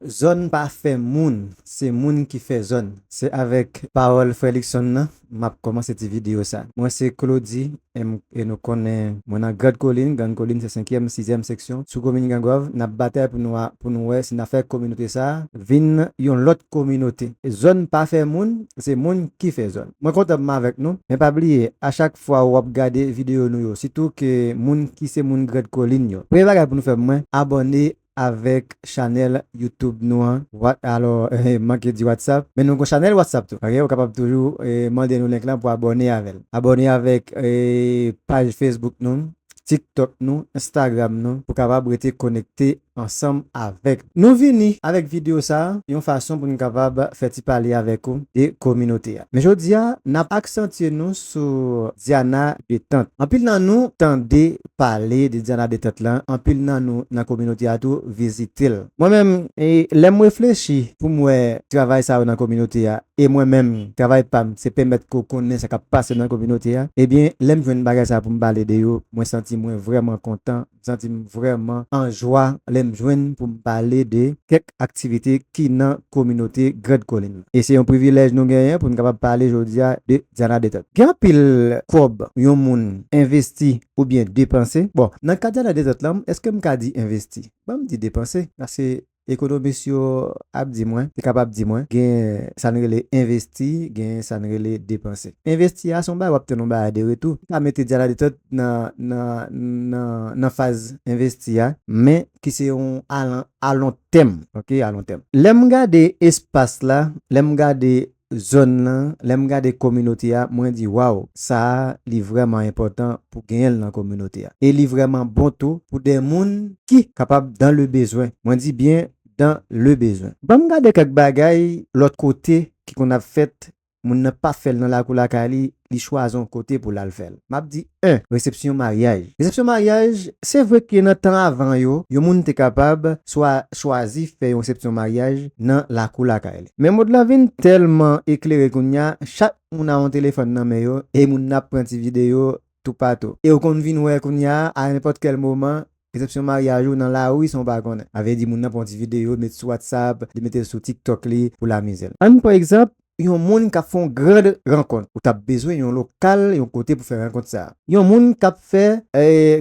Zòn pa fè moun, se moun ki fè zòn. Se avèk pawòl frè Luckson nan m ap kòmanse ti videyo sa. Mwen se Claudy M. e nou konnen mwen nan Grand Kolin, Grand Kolin se senkyèm, sizyèm seksyon sou komin Gran Gòv. N ap batay pou nou a pou nou wè si n a fè kominote sa a vin yon lòt kominote. Zòn pa fè moun, se moun ki fè zòn. Mwen kontan m avèk nou, men pa bliye a chak fwa ou ap gade videyo nou yo, sitou ke moun ki se moun Grand Kolin yo, premye bagay pou nou fè mwen abòne avèk chanèl YouTube nou an. What alò m manke di WhatsApp men nou gon chanèl WhatsApp tou ok ou kapab toujou mande nou link lan pou abòne avèl abòne avèk paj Facebook nou TikTok nou Instagram nou pou kapab rete konekte ansanm avèk nou vini avèk videyo sa yon fason pou nou kapab fè ti pale avèk ou de kominote a men jodi a nap aksantye nou sou Diana Detente anpil nan nou tande pale de Diana Detente lan, anpil nan nou nan kominote a tou vizite l. Mwen menm, lè m reflechi pou m wè travay sa yo nan kominote a, e mwen menm, travay pa m se pèmèt ke w konnen sa k ap pase nan kominote a, ebyen lè m jwenn bagay sa yo pou m pale de yo, mwen santi mwen vrèman kontan, m santi m vrèman anjwa lè m jwenn pou m pale de kèk ak aktivite ki nan kominote Grand Kolin lan. E se yon privilèj nou genyen pou n kapab pale jodi a de Diana Detente. Gen anpil kòb yon moun envesti oubyen depanse. Bon, nan ka Diana Detente lan, èske m ka di envesti? Ban m di depanse, paske ekonomis yo ap di mwen, te kapab di mwen, gen sa n rele envesti, gen sa n rele depanse. Envesti a se yon bagay w ap tann yon bagay de retou. M ka mete Diana Detente nan faz envesti a, men ki se yon alontèm, ok, alontèm. Lè m gade espas la, lè m gade zòn lan, lè m gade kominote a, mwen di waw, sa a li vrèman enpòtan pou genyen l nan kominote a. E li vrèman bon tou pou de moun ki kapab dan le bezwen, mwen di byen dan le bezwen. Ban m gade kèk bagay lòt kote ki konn ap fèt moun nan pa fè l nan lakou lakay li, li chwazi yon kote pou l al fè l. M ap di 1. Resepsyon maryaj Resepsyon maryaj, Se vre ke nan tan avan yo, yon moun te kapab swa chwazi fè yon resepsyon maryaj nan lakou lakay li. Men mond lan vin tèlman eklere kounya, chak moun a yon telefòn nan men yo e moun nan ap pran ti videyo toupatou. E ou konn vin wè kounya a nenpòt kèl moman, resepsyon maryaj ou nan lari san ou pa konnen. Avè di moun nan pran ti videyo met sou WhatsApp, li mete l sou TikTok li pou l amize l. Ann pran egzanp yon moun k ap fè yon grand rankont. Ou t ap bezwen yon lokal, yon kote pou fè rankont sa. Yon moun k ap fè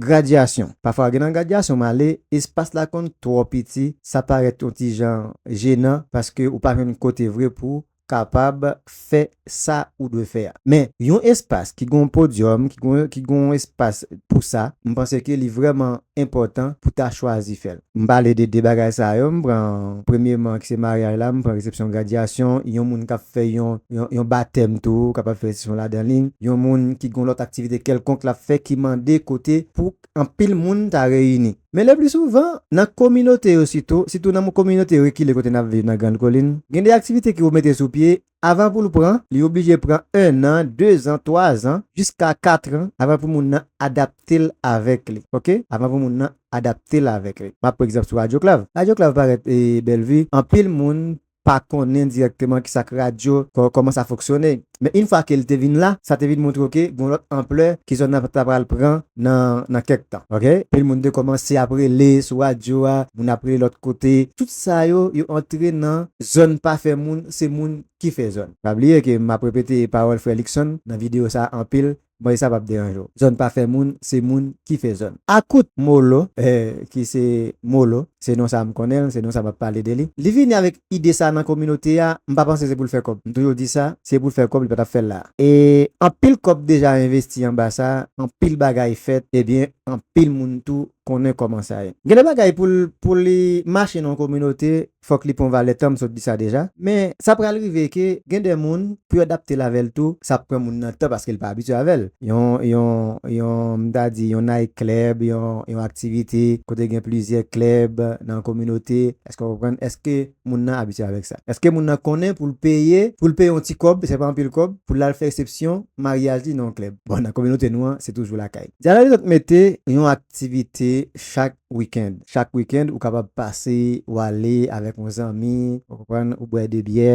gradyasyon. Pafwa gen nan gradyasyon m ale, espas la konn twò piti, sa parèt yon ti jan jenan paske ou pa jwenn kote vre pou kapab fè sa ou dwe fè a. Men, yon espas ki gen yon podyòm, ki gen yon, ki gen yon espas pou sa, m panse ke li vrèman enpòtan pou ta chwazi fè l. M pale de 2 bagay sa yo, m pran premyeman ki se maryaj la, m pran resepsyon gradyasyon, yon moun k ap fè yon, yon, yon batèm tou kapab fè resepsyon ladan li, yon moun ki gen yon lòt aktivite kèlkonk l ap fè ki mande kote pou anpil moun ta reyini. Men lepli souvan, nan kominote yo sitou, sitou nan kominote rekile kote n ap viv nan Grand Kolin, gen de aktivite ki pou mete sou pye, avan pou l pran, li oblije pran ennan, dezan, twazan, jiska katran, avan pou moun nan adapte l avèk li. Ok, avan pou moun nan adapte l avèk li. M ap pran egzanp sou Radyo Klav. Radyo Klav parèt Bèlvi, anpil moun pa konnen dirèkteman ki sa k radyo, kòman sa fonksyone. Men in fwa ke l te vin la, sa te vin montre w ke gon lòt anplè ke zòn nan ta pral pran nan nan kèk tan. Ok. Anpil moun te kòmanse ap rele sou radyo a, moun ap rele lòt kote. Tout sa yo, yo antre nan zòn pa fè moun, se moun ki fè zòn. Pa bliye ke m ap repete pawòl frè Luckson nan videyo sa a anpil, Bon esa pap deranje w. Zòn pa fè moun, se moun ki fè zòn. Akout Molo, eh ki se Molo, se non sa m konnen l, se non sa map pale de li. Li vini avèk ide sa nan kominote a, m pa panse se pou l fè kòb. M toujou di sa, si se pou l fè kòb, li pa tap fè l la. E anpil kòb deja envesti anba sa, anpil bagay fèt, ebyen anpil moun tou konnen kòman sa ye. Gen de bagay pou l pou li mache nan yon kominote, fòk li pran valè tan m sot di sa deja men sa pral rive ke gen de moun pou yo dapte l avè l tou sa ap pran moun nan tan paske l pa abitye avè l yon yon yon m ta di yon night club yon yon aktivite kote gen plizyè club nan kominote èske w konprann èske moun nan abitye avèk sa èske moun nan konnen pou l peye pou l peye yon ti kòb se pa anpil kòb pou l al fè resepsyon maryaj li nan yon club bon nan kominote nou an se toujou lakay dyalòg li dòk mete yon aktivite chak weekend. Chak weekend ou kapab pase ou ale avèk yon zanmi ou konprann ou bwè 2 byè,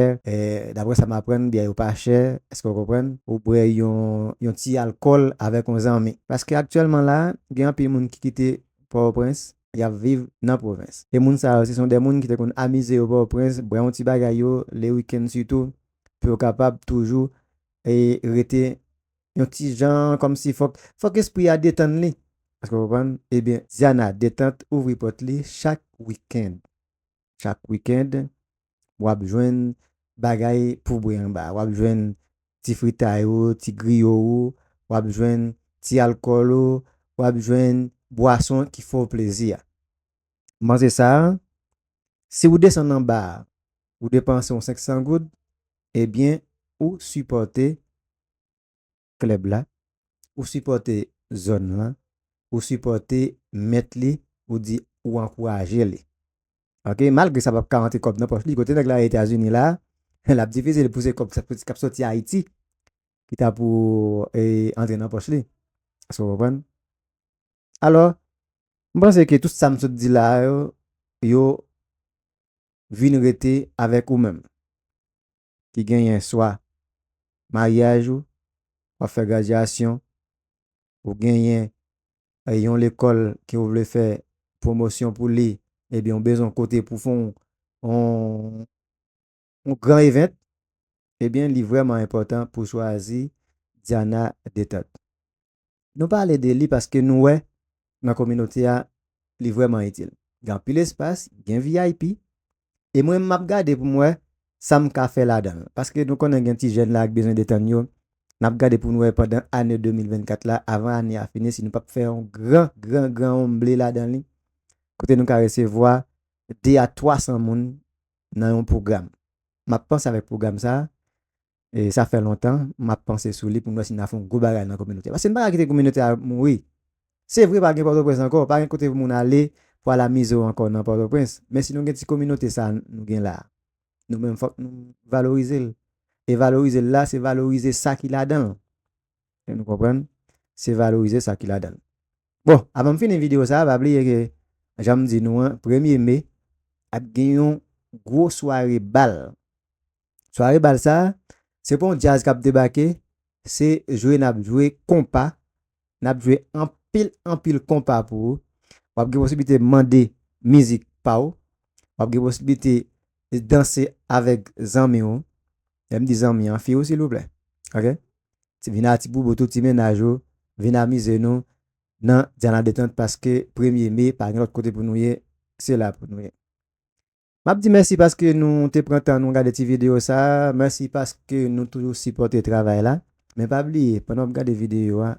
daprè sa m aprann byè yo pa chè èske ou konprann, ou bwè yon ti alkòl avèk yon zanmi. Paske aktyèlman la gen anpil moun ki kite Pòtoprens y ap viv nan pwovens e moun sa yo se son de moun ki te konn amize yo Pòtoprens bwè yon ti bagay yo le weekend sitou pou yo kapab toujou rete yon ti jan kòmsi fòk fòk espri a detann li èske w konprann ebyen Ziana detant ouvri pòt li chak wikend chak wikend wap jwenn bagay pou bwè anba wap jwenn ti fritay ou ti griyo ou wap jwenn ti alkòl ou wap jwenn bwason ki fè w plezi a manze sa si w desann anba ou depanse yon 500 goud ebyen ou sipòte klèb la, ou sipòte zòn lan, ou sipòte mèt li, ou di ou ankouraje li. Ok, malgre sa pap ka rantre kòb nan pòch li, kote nèg la ye Etazini la, lap difisil pou se kòb kap soti Ayiti ki ta pou antre nan pòch li. Èske w konprann? Alò, m panse ke tout sa m sot di la yo, yo vin rete avèk ou menm. ki genyen swa maryaj ou, wap fè gradyasyon, ou genyen yon lekòl ke ou vle fè pwomosyon pou li ebyen ou bezwen yon kote pou fon yon gran event ebyen li vrèman enpòtan pou chwazi Diana Detente. Nou pale de li paske nou wè nan kominote a li vrèman itil. Gen anpil espas, gen vip e mwen m ap gade pou m wè sa m ka fè ladan l. Paske nou konnen gen ti jèn la ak bezwen detann yo, n ap gade pou nou wè pandan ane 2024 la avan ane a fini si nou p ap fè yon gran gran gran omble ladan li kote nou ka resevwa 2 a 300 moun nan yon pwogram. M ap panse avèk pwogram sa a E sa fè lontan m ap panse sou li pou m wè si n a fè yon gwo bagay nan kominote a. Paske n pa ka kite kominote a mouri. Se vre pa gen Pòtoprens ankò, pa gen kote pou moun ale pou al amize w ankò nan Pòtoprens, men si nou gen ti kominote sa a nou gen la a, nou menm fòk nou valorize l. E valorize l la, se valorize sa ki ladan l. Èske nou konprann? Se valorize sa ki ladan l. Bon, avan m fini videyo sa a, pa bliye ke jan m di nou an, premye me ap gen yon gwo sware bal Sware bal sa, se pa yon djaz kap debake, se jwe nap jwe konpa, nap jwe anpil anpil konpa pou ou, wap gen posiblite mande mizik pa ou, wap gen posiblite danse avèk zanmi ou, lèm di zanmi an, fi ou silvouplè ok, vin a ti boubou tout ti mennaj ou, vin amize nou nan Diana Detente paske premye me pa gen lòt kote pou nou ye, se la pou nou ye. Map di mèsi paske nou te pran tan nou gade ti video sa, mèsi paske nou toujou sipòte travay la, men pa bliye pandan wap gade video a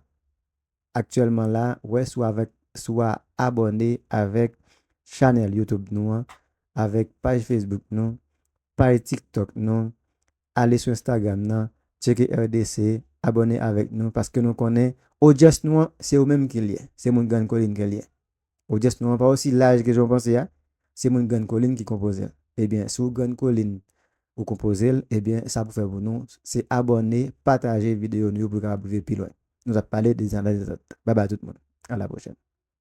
aktyèlman la wè si w avèk si wa abòne avèk chanèl YouTube nou an, avèk paj Facebook nou, paj tiktok nou, ale sou Instagram nan tcheke RDC abòne avèk nou paske nou konnen odyans nou an se ou menm ki l ye, se moun grann kolin ke l ye. Odyans nou an pa osi laj ke jan w panse a, se moun Grann Kolin ki konpoze l. Ebyen si w Grann Kolin ou konpoze l, ebyen sa pou fè pou nou se abòne, pataje videyo nou yo pou yo kapab rive pi lwen. Nou tap pale de Zanlè Zantèt. Babay tout moun. A la pwochèn.